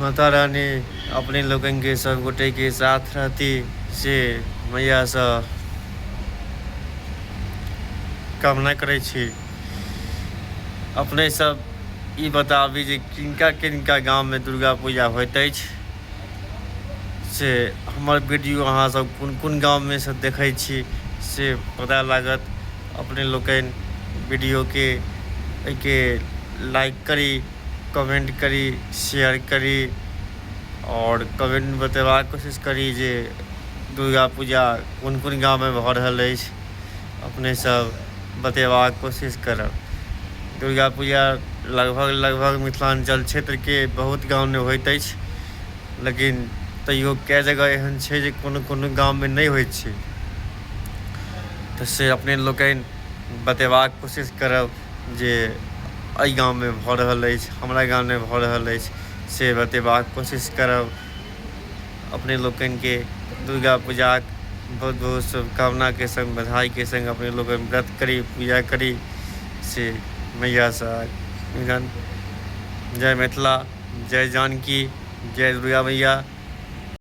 माता रानी अपने लोकनिके सब गोटेके साथ रहती से मैयासँ कामना करै छी अपने सब ई बताबी जे किनका किनका गाममे दुर्गा पूजा होइत अछि से हमर वीडियो अहाँसब कोन कोन गाममे से देखै छी से पता लागत अपने लोकनि वीडियोके एहिके लाइक करी कमेन्ट करी शेयर करी आओर कमेन्टमे बतेबाक कोशिश करी जे दुर्गा पूजा कोन कोन गाममे भऽ रहल अछि अपनेसभ बतेबाक कोशिश करब दुर्गा पूजा लगभग लगभग मिथिलाञ्चल क्षेत्रके बहुत गाममे होइत अछि लेकिन तैओ कए जगह एहन छै जे कोनो कोनो गाममे नहि होइत छै तऽ से अपने लोकनि बतेबाक कोशिश करब जे एहि गाममे भऽ रहल अछि हमरा गाममे भऽ रहल अछि से बतेबाक कोशिश करब अपने लोकनिके दुर्गा पूजाक बहुत बहुत शुभकामनाके सङ्ग बधाइके सङ्ग अपने लोकनि व्रत करी पूजा करी से मैयासँ निवेदन जय मिथिला जय जानकी जय दुर्गा मैया